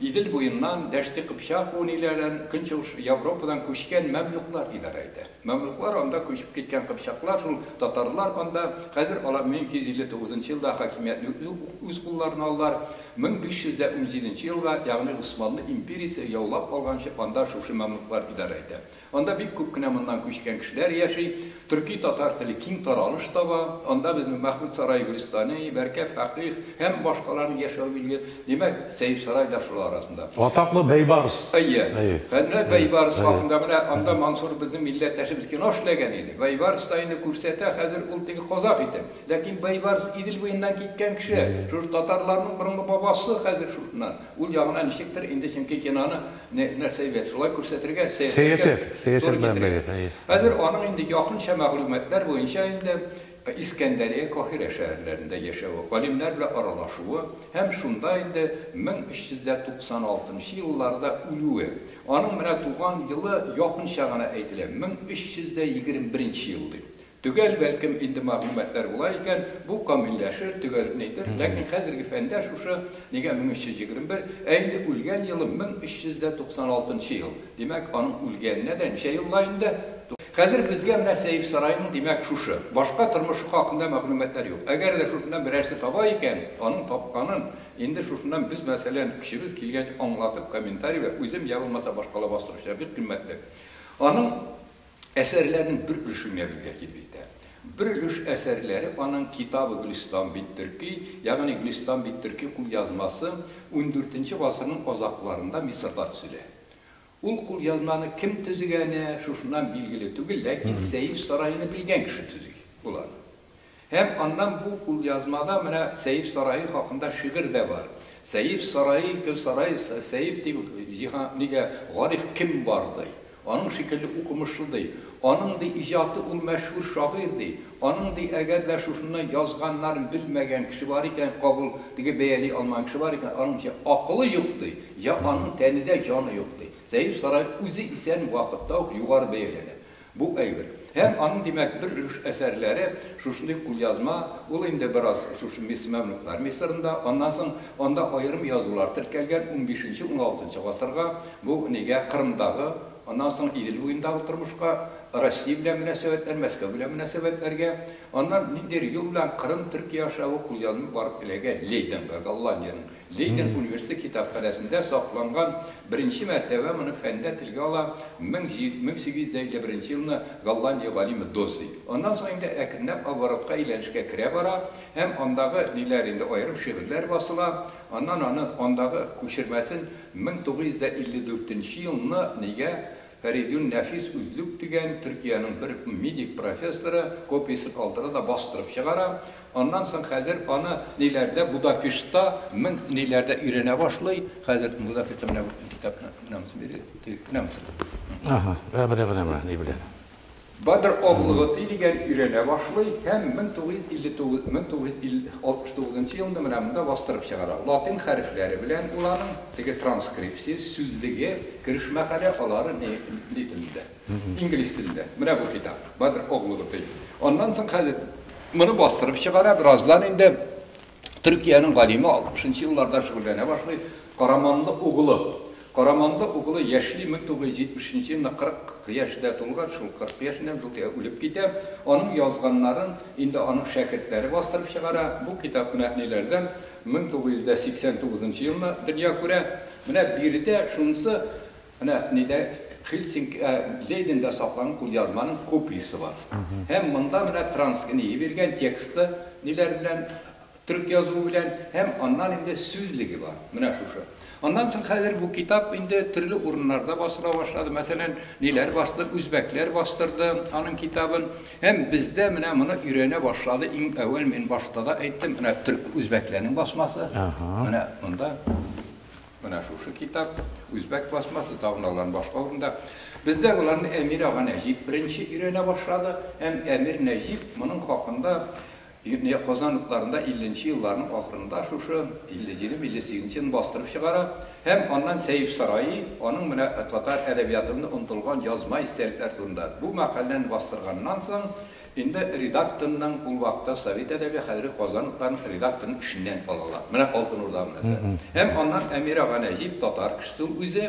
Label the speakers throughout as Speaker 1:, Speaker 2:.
Speaker 1: Идел буеннан Дәшти Кыпчак буын ияләрен Көнчыгыш Европадан күчкән мәмлүклар идарә итә. Мәмлүклар анда күчеп киткән кыпчаклар шул, татарлар анда, хәзер алар 1259 нчы елда хакимиятне үз кулларына алдылар, 1517 нче елга, ягъни Госманлы империясе яулап алганчы анда шушы мәмлүклар идарә итә. Анда бик күп кенә моннан күчкән кешеләр яши. Төрки-татар теле киң таралыш таба. Анда безнең Мәхмүт сарае Гөлстани, Бәркә фәкыйх һәм башкаларның яшәве билгеле. Димәк, Сәйф сарай да шулар арасында. Атаклы Бәйбарс. Әйе. Әнә Бәйбарс хакында менә анда Мансур безнең милләттәшебез кино эшләгән иде. Бәйбарс та инде күрсәтә хәзер ул теге казах итеп. Ләкин Бәйбарс Идел буеннан киткән кеше. Шушы татарларның борынгы бабасы хәзер шушыннан. Ул ягына ничектер инде, чөнки киноны нәрсә бит, шулай күрсәтергә, сәясәткә туры китерергә. Хәзер аның инде якынча мәгълүматлар буенча инде Искәндәрия, Каһирә шәһәрләрендә яшәве, галимнәр белән аралашуы һәм шунда инде 1396 нчы елларда үлүе. Аның менә туган елы якынча гына әйтелә, 1321 нче ел дип. Төгәл, бәлкем, инде мәгълүматлар була икән, бу камилләшер, төгәлнәйтер, ләкин хәзерге фәндә шушы, нигә 1321, ә инде үлгән елы 1396 ел, димәк, аның үлгәненә дә ничә елга инде? Хәзер безгә менә Сәер сараеның, димәк, шушы. Башка тормышы хакында мәгълүматлар юк. Әгәр дә шушыннан берәрсе таба икән, аның тапканын инде шушыннан без, мәсәлән, көчебез килгәнчә аңлатып, комментарий вә үзем, йә булмаса башкалар бастырып чыгар, бик кыйммәтле. Аның. Әсәрләрнең бер өлеше менә безгә килеп итә. Бер өлеш әсәрләре аның Китабы Гөлистан бит төрки, ягъни Гөлистан бит төрки кулъязмасы ундүртенче гасырның азакларында Мисырда төзелә. Ул кулъязманы кем төзегәне шушыннан билгеле түгел, ләкин Сәеф сараены белгән кеше төзи ул аны. Һәм аннан бу кулъязмада менә Сәеф сарае хакында шигырь дә бар. Сәеф сарае, ике сарай, Сәеф дип җиһан, нигә, Гариф кем бар, ди. Аның шикелле укымышлы, ди. Аның, ди, иҗаты ул мәшһүр шагыйрь, ди. Аның, ди, әгәр дә шушыннан язганнарын белмәгән кеше бар икән, кабул, теге бәяли алмаган кеше бар икән, аның җә акылы юк, ди, җә аның тәнедә җаны юк, ди. Сәеф сарае үзе исән вакытта ук югары бәяләнә. Бу әйбер. Һәм аның, димәк, бер өлеш әсәрләре шушындый кулъязма, ул инде бераз шушы Мисс мәмлүкләр Мисырында, аннан соң анда аерым язулар теркәлгән, унбишенче, уналтынчы гасырга, бу нигә Кырымдагы, аннан соң Идел буендагы тормышка, Россия белән мөнәсәбәтләр, Мәскәү белән мөнәсәбәтләргә, аннан ниндидер юл белән Кырым, Төркия аша бу кулъязма барып эләгә Лейденга, Голландиянең Лейден университеты китапханәсендә сакланган беренче мәртәбә моны фәндә телгә ала 1851 елны Голландия галиме Доззи. Аннан соң инде әкренләп оборотка әйләнешкә керә бара һәм андагы ниләр инде аерым шигырьләр басыла, аннан аны андагы күчермәсен 1954 нче елны нигә Фәридун Нәфис Үзлүк дигән Төркиянең бер медик профессоры копиясен алдыра да бастырып чыгара. Аннан соң хәзер аны ниләрдә, Будапештта, мең ниләрдә өйрәнә башлый. Хәзер Будапештта менә бу китапны, менә монсын бирегез, теге, менә монсын. Аһа, менә, менә, менә, ни белән. Бадр Огл Готи дигән өйрәнә башлый һәм 1959 1969 нчы елны менә монда бастырып чыгара. Латин хәрефләре белән ул аның теге транскрипция, сүзлеге, керешмә хәле, алары ни ни телендә? Инглиз телендә. Менә бу китап, Бадр Огл Готи. Аннан соң хәзер моны бастырып чыгара, бераздан инде Төркиянең галиме алтмышынчы елларда шөгыльләнә башлый, Караманлы углы. Караманлы углы яшьли, 1973 елны 40 яшьдә тулган, шул 40 яшеннән шул тиңа үлеп китә. Аның язганнарын инде аның шәкертләре бастырып чыгара. Бу китап менә ниләрдән, 1989 елны дөнья күрә. Менә биредә шунысы Менә нидә, Хельсинки, ә, Лейдендә сакланган кулъязманың копиясе бар. Һәм монда менә Транск нии биргән тексты, ниләр белән, төрек язуы белән, һәм аннан инде сүзлеге бар, менә шушы. Аннан соң хәзер бу китап инде төрле урыннарда басыла башлады, мәсәлән, ниләр басты, үзбәкләр бастырды аның китабын, һәм бездә менә моны өйрәнә башлады, иң әүвәл мин башта да әйттем, менә төрек, үзбәкләрнең басмасы, менә монда. Менә шушы китап, үзбәк пластмассы табыналарын башка урында. Бездә боларны Әмир ага Нәҗип беренче өйрәнә башлады һәм Әмир Нәҗип моның хакында Казан утларында 50 нче елларның ахырында шушы 57-58 елны бастырып чыгара һәм аннан Сәеп сараи аның менә татар әдәбиятында онытылган язма истәлекләр турында бу мәкаләне бастырганнан соң Инде редакторның ул вакытта Совет әдәбе, хәзерге Казан утларын редакторның эшеннән алалар. Менә Алтын Урда монысы. Һәм аннан Әмир ага Нәҗип, татар кешесе ул үзе,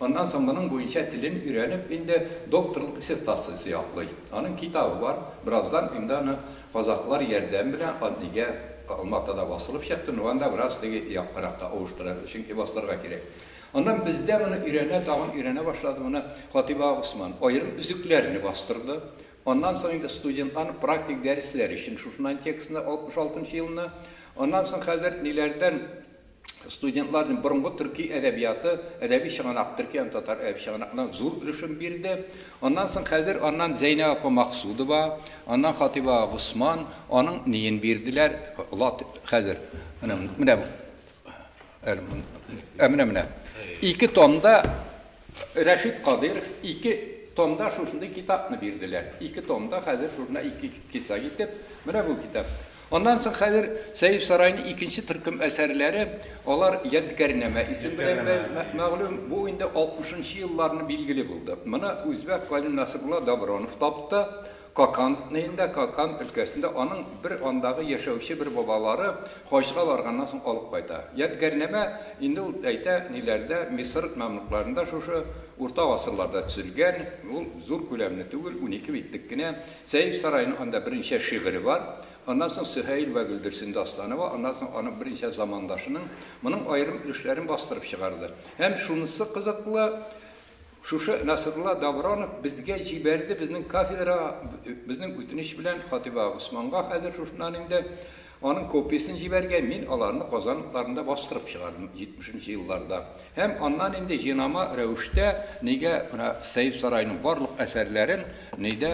Speaker 1: аннан соң моның буенча телен өйрәнеп, инде докторлык диссертациясе яклый. Аның китабы бар. Бераздан инде аны казахлар ярдәме белән аны нигә Алматада басылып чыкты, ну анда бераз теге яккаракта авыштырырга, чөнки басылырга кирәк. Аннан бездә моны өйрәнә, тагын өйрәнә башлады, моны Хатыйб ага Госман аерым өзекләрне бастырды. Аннан соң инде студентларны практик дәресләр өчен шушыннан текстны 66 нчы елны, аннан соң хәзер ниләрдән студентларны борынгы төрки әдәбияты, әдәби чыганак, төрки һәм татар әдәби чыганагына зур өлешен бирде. Аннан соң хәзер аннан Зәйнәб апа Максудова, аннан Хатыйб ага Госман, аның ниен бирделәр, лат хәзер менә менә менә менә ике томда Рәшит Кадыйров ике томда шушындый китапны бирделәр. Ике томда хәзер шушында ике кисәк итеп, менә бу китап. Аннан соң хәзер Сәйф Сарайның икенче төркем әсәрләре, алар Ядкарьнамә исем белән мәгълүм, бу инде алтмышынчы елларны билгеле булды. Моны үзбәк галим Насрулла Добронов тапты. Какан ненда, Какан өлкәсендә аның бер андагы яшәүче бер бабалары хаҗга барганнан соң алып кайта. Ядгәрнамә инде ул әйтә ниләрдә, Мисыр мәмлукларында шушы урта гасырларда төзелгән, ул зур күләмле түгел, унике битлек кенә. Сәйф Сарайның анда берничә шигыре бар. Аннан соң Сөһәйл вә Гөлдерсен дастаны ва аннан соң аның берничә замандашының моның аерым өлешләрен бастырып чыгарды. Һәм шунысы кызыклы, Шушы Насрулла Давронов безгә җибәрде безнең кафедрага безнең үтенеч белән Хатыйба Госманга хәзер шушыннан инде аның копиясен җибәрергә, мин аларны Казан утларында бастырып чыгардым 70 нче елларда. Һәм аннан инде җинама рәвештә нигә менә Сәет Сарайның барлык әсәрләрен нидә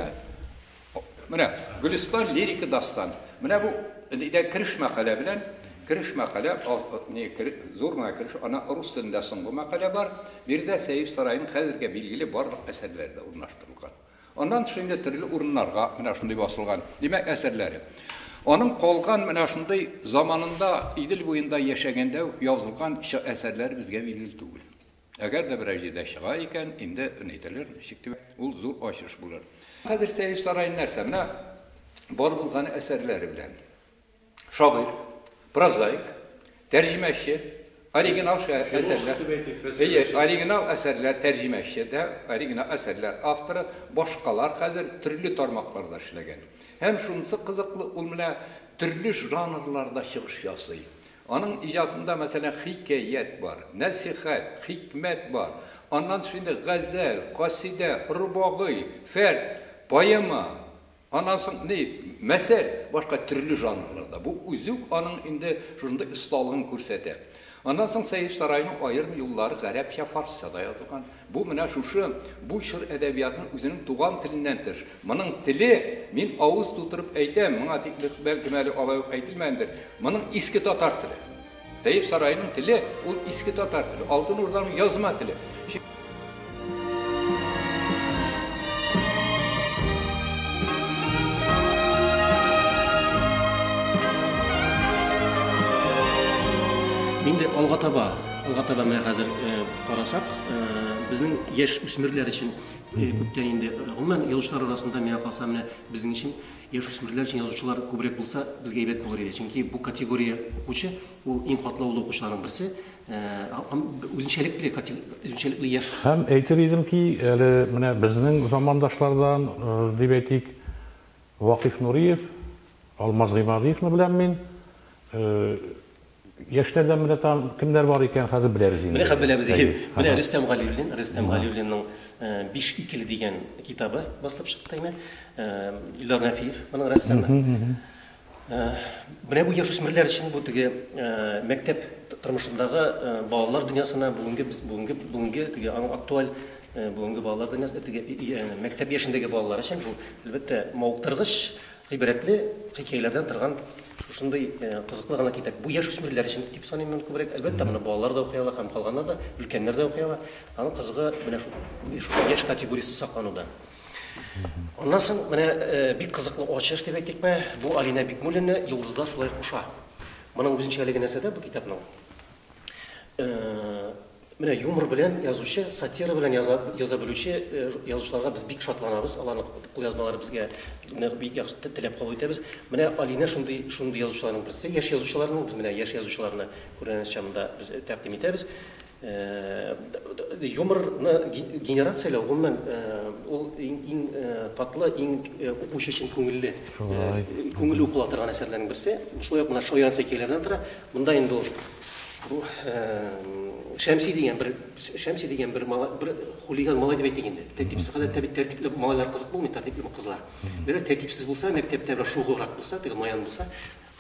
Speaker 1: Менә Гөлистан лирика дастан. Менә бу нидә кереш мәкалә белән, кереш мәкалә, зур гына кереш, ана рус телендә соңгы мәкалә бар. Биредә Сәер сараеның хәзергә билгеле барлык әсәрләре дә урнаштырылган. Аннан тыш инде төрле урыннарга менә шундый басылган. Димәк, әсәрләре. Аның калган менә шундый заманында Идел буенда яшәгәндә үк язылган әсәрләре безгә билгеле түгел. Әгәр дә берәр җирдә чыга икән, инде әйтерләр ничек дип, ул зур ачыш булыр. Хәзер Сәер сараен нәрсә, менә бар булган әсәрләре белән шагыйрь, прозаик, тәрҗимәче, оригинал әсәрләр, әйе, оригинал әсәрләр тәрҗимәче дә, оригинал әсәрләр авторы, башкалар хәзер төрле тармакларда эшләгән. Һәм шунысы кызыклы, ул менә төрле жанрларда чыгыш ясый. Аның иҗатында, мәсәлән, хикәят бар, нәсыйхәт, хикмәт бар. Аннан тыш инде газәл, касыйдә, рубагый, фәрд, поэма, аннан соң ни, мәсәл, башка төрле жанрларда. Бу үзе үк аның инде шушындый осталыгын күрсәтә. Аннан соң Сәйф Сарайның аерым юллары гарәпчә, фарсча да язылган. Бу менә шушы, бу чор әдәбиятын үзенең туган теленнән тыш, моның теле, мин авыз тутырып әйтәм, моңа тикле, бәлкем әле алай ук әйтелмәгәндер, моның иске татар теле. Сәеп сараеның теле, ул иске татар теле, Алтын Урданың язма теле. Инде алга таба, алга таба менә хәзер, Карасак, безнең яшь үсмерләр өчен күптән инде, гомумән, язучылар арасында, миңа калса, менә безнең өчен яшь үсмерләр өчен язучылар күбрәк булса, безгә әйбәт булыр иде. Чөнки бу категория укучы, ул иң катлаулы укучыларның берсе, һәм үзенчәлекле, үзенчәлекле яшь. Һәм әйтер идем ки, әле менә безнең замандашлардан, дип әйтик, Вакыйф Нуриев, Алмаз Гыймадиевны беләм мин. Яшьләрдән менә тагын кемнәр бар икән, хәзер беләбез инде. Менә хәзер беләбез, әйе. Менә Рөстәм Галиуллин, Рөстәм Галиуллинның Биш икеле дигән китабы басылып чыкты инде. Илдар Нәфиев, моның рәссамы. Менә бу яшүсмерләр өчен бу теге мәктәп тормышындагы балалар дөньясына бүгенге без бүгенге бүгенге теге аның актуаль бүгенге балалар дөньясына теге мәктәп яшендәге балалар өчен бу, әлбәттә, мавыктыргыч Гыйбрәтле хикәяләрдән торган шушындый кызыклы гына китап. Бу яшүсмерләр өчен дип саныйм мин күбрәк. Әлбәттә, моны балалар да укый ала һәм калганнар да, өлкәннәр дә укый ала. Аның кызыгы менә шул, шушы яшь категориясе саклануда. Аннан соң менә бик кызыклы ачыш дип әйтикме, бу Алинә Бикмуллина Йолдызлар шулай куша. Моның үзенчәлеге нәрсәдә бу китапның? Менә юмор белән язучы, сатира белән яза, яза белүче э, язучыларга без бик шатланабыз. Аларның кулъязмалары безгә нык бик яхшы теләп кабул итәбез. Менә Алинә шундый шундый язучыларның берсе. Яшь язучыларның без менә яшь язучыларны күргәнебез чамында без э, тәкъдим итәбез. Э, юморны генерацияләү гомумән ул иң, иң татлы, иң укучы өчен күңелле күңелле укыла торган әсәрләрнең берсе. Шулай ук менә шаян хикәяләрдән тора. Монда инде ул Бу Шәмси дигән бер Шәмси дигән бер малай, бер хулиган малай дип әйтик инде. Тәртипсез гадәттә бит тәртипле малайлар кызык булмый, тәртипле кызлар. Берәр тәртипсез булса, мәктәптә бер шугыррак булса, теге маян булса,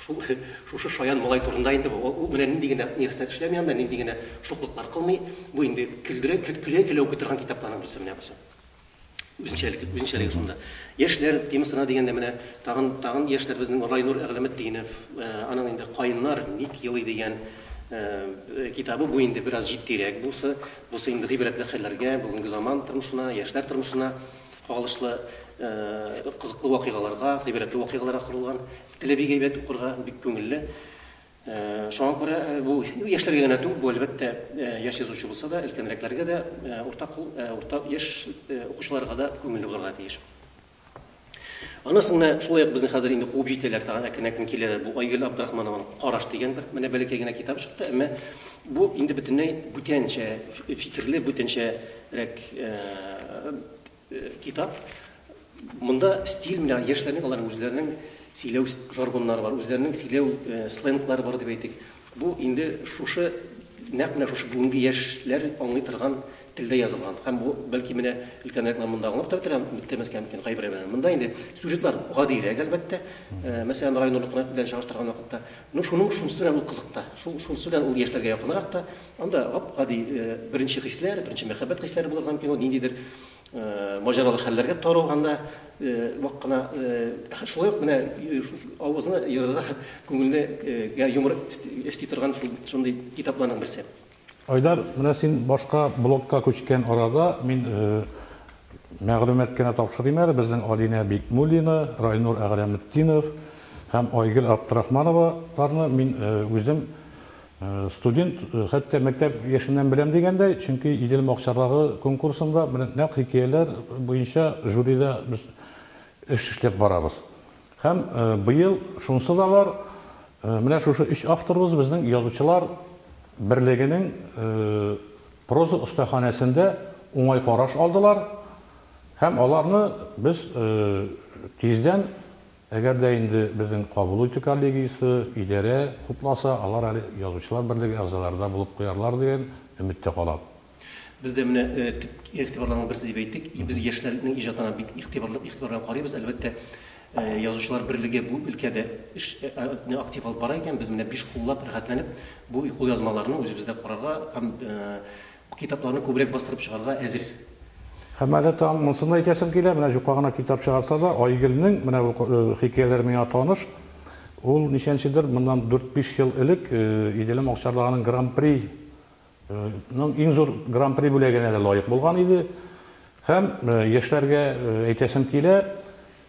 Speaker 1: шул шушы шаян малай турында инде бу. Ул менә нинди генә нәрсә эшләми анда, нинди генә шуклыклар кылмый. Бу инде көлдерә, көлә-көлә укый торган китапларның берсе менә бусы. Үзенчәлекле, үзенчәлеге шунда. Яшьләр темасына дигәндә менә тагын тагын яшьләр безнең Райнур Әгъләметдинов, э, аның инде Каеннар ник елый дигән э, китабы бу инде бераз җитдирәк булса, бусы инде гыйбрәтле хәлләргә, бүгенге заман тормышына, яшьләр тормышына кагылышлы э, кызыклы вакыйгаларга, гыйбрәтле вакыйгаларга корылган. Теле бик әйбәт укырга, бик күңелле. Шуңа күрә бу яшьләргә генә түгел, бу, әлбәттә, яшь язучы булса да, өлкәнрәкләргә дә, уртак, урта яшь укучыларга да күңелле булырга тиеш. Аннан соң менә шулай ук безне хәзер инде куып җитәләр тагын, әкрен-әкрен киләләр. Бу Айгөл Абдрахманованың Караш дигән бер менә бәләкәй генә китабы чыкты, әмма бу инде бөтенләй бүтәнчә фикерле, бүтәнчәрәк Китап. Монда стиль менә яшьләрнең аларның үзләренең сөйләү жаргоннары бар, үзләренең сөйләү сленглары бар дип әйтик. Бу инде шушы нәкъ менә шушы бүгенге яшьләр аңлый торган телдә язылган. Һәм бу бәлки менә өлкәнрәкләр монда аңлап та бетерә, бетермәскә мөмкин кайбер әйберләрне. Монда инде сюжетлар гадирәк, әлбәттә. Мәсәлән, Рай Нурлыкны белән чагыштырган вакытта, ну шуның шунысы белән ул кызык та. Шул шунысы белән ул яшьләргә якынрак та, Анда гап-гади беренче хисләр, беренче мәхәббәт хисләре булырга мөмкин, ул ниндидер маҗаралы хәлләргә таралганда вак кына шулай ук менә авызны ерырга һәм күңелгә юмор өсти торган шундый китапларның берсе. Айдар, менә син башка блогка күчкән арада, мин мәгълүмат кенә тапшырыйм әле, безнең Алинә Бикмуллина, Райнур Әгърәметдинов һәм Айгөл Абдрахмановаларны мин үзем Студент, хәтта мәктәп яшеннән беләм дигәндәй, чөнки Идел макчарлары конкурсында менә нәкъ хикәяләр буенча жюрида без эш эшләп барабыз. Һәм быел шунысы да бар, менә шушы өч авторыбыз безнең Язучылар берлегенең проза остаханәсендә уңай караш алдылар һәм аларны без тиздән Әгәр дә инде безнең кабул итү коллегиясе, идарә хупласа, алар әле Язучылар берлеге әгъзалары да булып куярлар дигән өмет тә калам. Без дә менә төп игътибарларның берсе дип әйттек. И без яшьләрнең иҗатына бик игътибарлы игътибар белән карыйбыз. Әлбәттә, Язучылар берлеге бу өлкәдә эш не актив алып бара икән, без менә биш куллап, рәхәтләнеп бу кулъязмаларны үзебездә карарга һәм Китапларны күбрәк бастырып чыгарга әзер. Һәм әле тагын монысын да әйтәсем килә, менә җука гына китап чыгарса да, Айгөлнең менә бу хикәяләре миңа таныш. Ул ничәнчедер, моннан дүрт-биш ел элек Иделем Акчарлагының Гран-при ның иң зур Гран-при бүләгенә дә лаек булган иде. Һәм яшьләргә әйтәсем килә,